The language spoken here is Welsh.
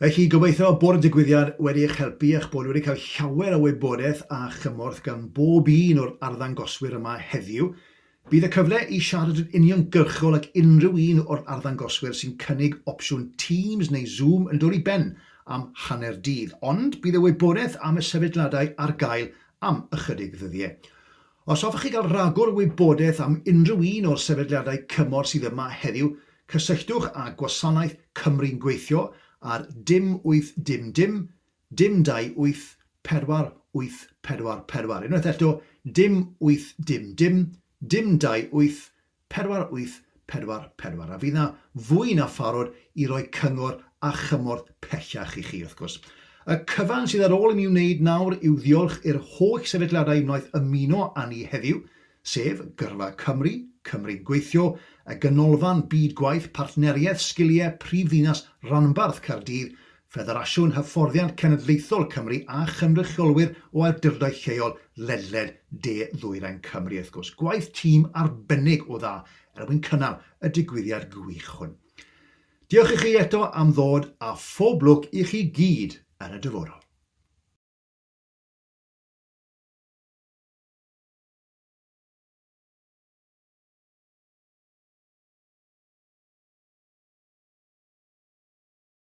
Felly, gobeithio bod y digwyddiad wedi eich helpu a'ch bod wedi cael llawer o wybodaeth a chymorth gan bob un o'r arddangoswyr yma heddiw. Bydd y cyfle i siarad yn uniongyrchol ag unrhyw un o'r arddangoswyr sy'n cynnig opsiwn Teams neu Zoom yn dod i ben am hanner dydd, ond bydd y wybodaeth am y sefydliadau ar gael am ychydig ddyddiau. Os hoffech chi gael rhagor o wybodaeth am unrhyw un o'r sefydliadau cymorth sydd yma heddiw, cysylltwch â Gwasanaeth Cymru'n Gweithio ar dim wyth dim dim, dim dau wyth, pedwar wyth pedwar pedwar. Unwaith eto, dim wyth dim dim, dim dau wyth, Pedwar wyth pedwar pedwar, a fydd 'na fwy na pharod i roi cyngor a chymorth pellach i chi, wrth gwrs. Y cyfan sydd ar ôl i mi wneud nawr yw ddiolch i'r holl sefydliadau wnaeth ymuno â ni heddiw, sef, Gyrfa Cymru, Cymru'n Gweithio, y Ganolfan Byd Gwaith, Partneriaeth Sgiliau Prif Ddinas Ranbarth Caerdydd, Ffederasiwn Hyfforddiant Cenedlaethol Cymru a chynrychiolwyr o awdurdodau lleol ledled de-ddwyrain Cymru, wrth gwrs. Gwaith tîm arbennig o dda er mwyn cynnal y digwyddiad gwych hwn. Diolch i chi eto am ddod a phob lwc i chi gyd yn y dyfodol.